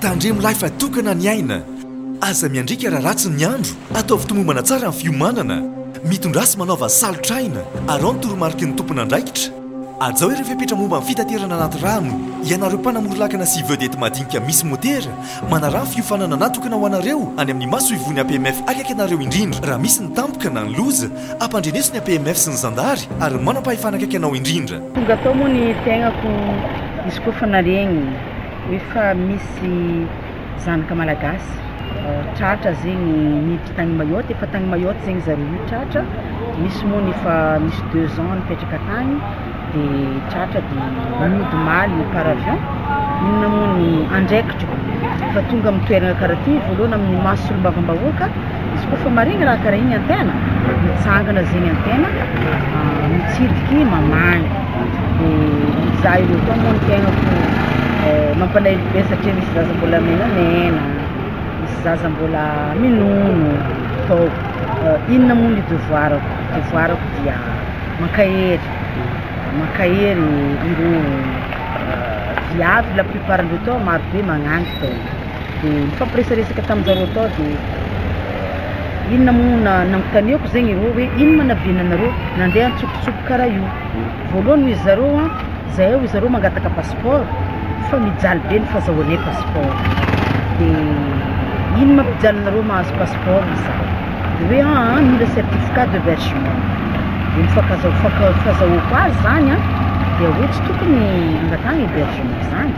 Tandremo lahy fa tokana ny aina. Aza miandriaka raha ratsy ny andro, ataovy tomombana tsara ny fiomanana. Mitondrasy manaova salotr'aina, araho ny toromariky ny tompon'andraikitra. Ajao ireo fepetra momba ny fitaterana anaty rano. Ianareo mpanamory lakana sy vedety madinika misy motera, manaraha ny fiofanana natokana ho anareo any amin'ny masoivohon'ny APMF akaiky anareo indrindra. Raha misy ny tampoka na ny loza, ampandreneso ny APMF sy ny zandary ary ny manam-pahefana akaiky anao indrindra. Tonga tao moa ny fiaignako izy koa fa naregny. Efa misy zanaka malagasy tratra zegny niditra tagny Mayotte, efa tagny Mayotte zegny zareo io tratra, misy moa ny efa misy deux ans nipetraka tagny de tratra de mody maly par avion, inona moa ny andraikitro fa tonga amin'ny toerana karaha ty voalohany amin'ny maso solombavambahoaka, Izy koa fa maregny raha karaha igny an-tegna, mitsangana zegny an-tegna, mitsidiky mamaly, de mizaha ireo koa moa ny tegna fô mampalahelo be satria misy zaza mbola menamena, misy zaza mbola minono, tô inona moa ny devoarako, devoarako dia mankahery, mankahery ireo viavy la plupart-ndreo tô marobe magnagny tô. Dia nifampiresaresaka tamin'ny zareo tao dia inona moa na nanontaniako zegny ireo hoe ino ma naviana anareo nandeha antsokosoko karaha io? Voalohany hoy zareo an, zahay hoy zareo mangataka passeport fa mijaly be ny fazahoanay passeport, dia ino ma mpijaly nareo mahazo passeport hoy za. Dia hoe an an mila certificat de vergement dia ny fakaza faka fazahoako azy zany an dia hoe tsy tokony hangatahana hebergement zany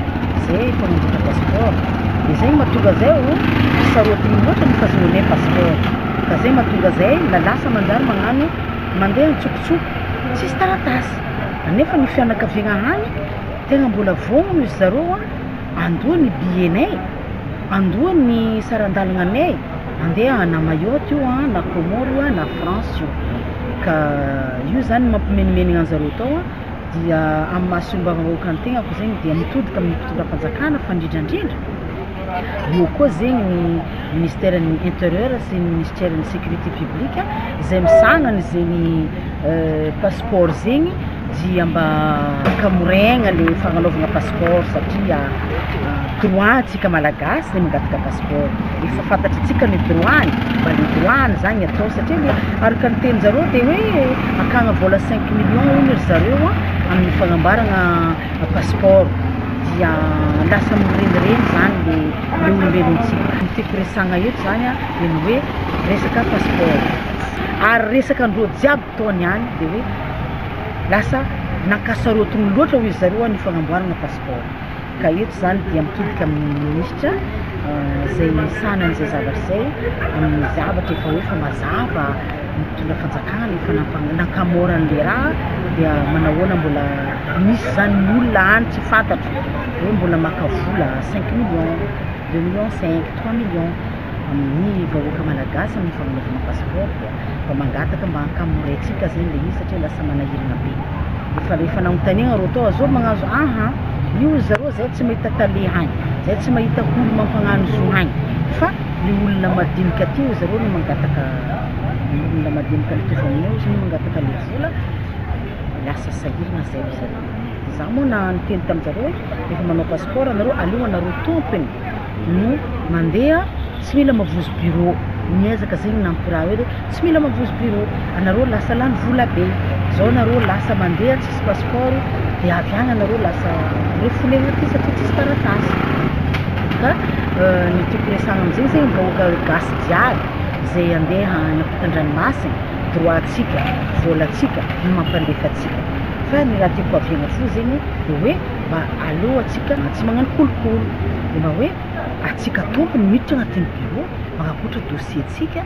zay efa mandratra passeport dia zay mahatonga zay o sarotiny loatra ny fazahoanay passeport ka zay mahatonga zay la lasa manjary magnano mandeha antsokosoko tsisy taratasy anefa ny fianakaviagna any tegna mbola vono izy zareo an andoa ny billet nay andoa ny saran-dalagna nay Andeha na Mayotte io an, na Comores io an, na France io, ka io zany no mampimenomenogna anjareo tao an, dia amin'ny maha solombavambahoaka ny tegnako zegny dia mitodika amin'ny fitondram-panjakana fa ndrindra ndrindra eo koa zegny ny ministeran'ny interieur sy ny minisiteran'ny sécurité publique zay misahana an'izegny. passeport zegny dia mba hamoregna le fagnanaovana passeport satria droit tsika malagasy ny mangataka passeport efa fantatritsika ny droit ny mba le droit ny zany atao satria le araka ny teninjareo de hoe akagna vôla cinq million hono ry zareo a amin'ny fagnamboaragna passeport dia lasa mirenireny zany le le olombelontsika ny tiako resagna eto zany a de ny hoe resaka passeport. Ary resaka ndreo jiaby mpitaony ihany de hoe lasa nankasarotiny loatra hoy ry zareo ny fagnamboarana passeport. Ka eto zany dia mitodika amin'ny ministra izay misahana an'izay zavatra izay amin'ny zavatra efa hoe efa mazava ny mpitondra fanjakana efa nampa- nankamora an'le raha dia manahoana mbola misy zany ny olona any tsy fantatro hoe mbola maka vola cinq millions, deux millions cinq, trois millions. amin'ny vahoaka malagasy amin'ny fanaovana passeport dia mba mangataka mba ankamoray antsika zany le izy satria lasa manahirana be efa le fananotaniagna ro atao azao magnazo aha io ry zareo zay tsy mahita tale hagny zay tsy mahita olo mampagnano zo hagny fa le olona madinika aty ozy zareo no mangataka ny olona madinika mitovy aminay ozy no mangataka le vola lasa sahiragna zay ry zareo za moa na niteny taminjareo hoe efa manao passeport nareo aleo anareo tompony no mandeha tsy mila mavozo bureau niezaka zegny nampiraha hoe tsy mila mavozo bureau anareo lasa lany vola be zao nareo lasa mandeha tsisy passeport de avy agny anareo lasa refoule aty satria tsisy taratasy ka euh, ny toko resagna amizegny zegny vahoaka gasy jiaby zay andeha any ampitandranomasina droitsika volatsika no mampandefatsika fa ny raha tiako aviagna fo zegny de hoe mba aleohantsika tsy magnano kolikoly de mba hoe atsika tompony miditra agnatin'ny bureau manakoatra dossier tsika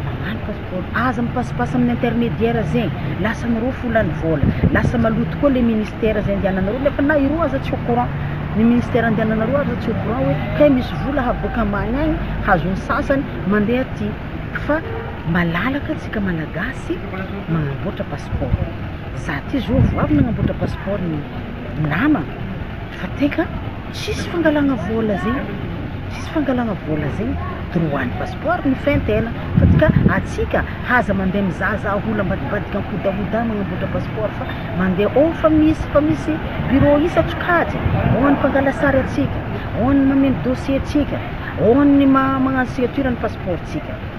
magnano pasipaoro aza mipasipasy amin'ny intermediaire zegny lasa anareo folan'ny vôla lasa maloto koa le ministère zay andiananareo nefa na ireo aza tsy au courant ny ministère andiananareo aza tsy au courant hoe kay misy vola havoaka ambany agny hazon'ny sasany mande aty fa malalaka tsika malagasy magnamboatra pasipaoro za ty zao vao avy nagnamboatra pasipaoro ny. namana fa teka tsisy fangalana vola zay tsisy fangalana vola zay droit ny passeport no fentena fa tika atsika aza mande mizaza ola ambadibadika ankodahodahy manamboatra passeport fa mande ao fa misy fa misy bureau isasokajy ao ny mpangala sary atsika ao ny mameno dossier tsika ao ny magnano signature ny passeport tsika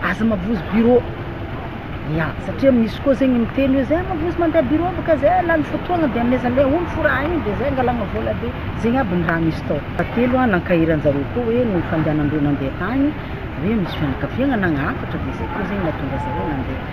Aza mavozo bureau ya satria misy koa zegny miteny hoe zay mavozo mandeha bureau bôka zay lany fotoagna de amizay le olo foraha igny de zay angalagna vôla be zegny aby ny raha misy tao. Fahatelo a nankaheranjareo koa hoe ny fandehanandreo nandeha tagny hoe misy fianakaviagna nagnafatra de zay koa zegny nahatonga zareo nandeha.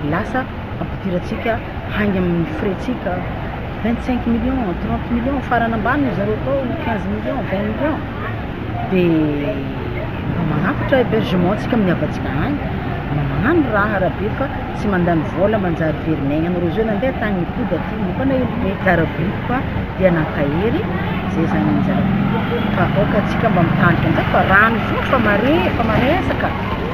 Lasa ampidirantsika hainga amin'ny frais-tsika vingt cinq millions, trente millions, farany ambany ry zareo atao quinze millions, vingt millions, dia mba manatitra hebergement-tsika amin'ny havantsika any, mba magnano raha Rabe fa tsy mandany vola manjary very miaigna anareo zao nandeha tany nipody aty ny mpanaelo be, zaraboiko ka dia nankahery, zay zany ny zaraboiko fa aoka antsika mba mitandrina ndray fa rano io fa mare efa maresaka.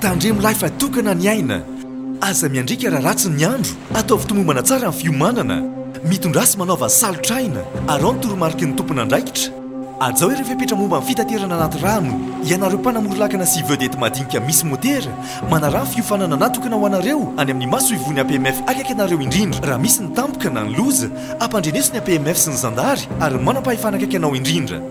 Tandremolahy fa tokana ny aina. Aza miandriaka raha ratsy ny andro. Ataovy tomombana tsara ny fiomanana. Mitondrasy manaova salotr'aina. Araho ny toromariky ny tompon'andraikitra. Hajao ireo fepetra momba ny fitaterana anaty rano. Ianareo mpanamory lakana sy vedety madinika misy motera, manaraha ny fiofanana natokana ho anareo any amin'ny masoivohon'ny APMF akaiky anareo indrindra. Raha misy ny tampoka na ny loza, ampandreneso ny APMF sy ny zandary ary ny manam-pahefana akaiky anao indrindra.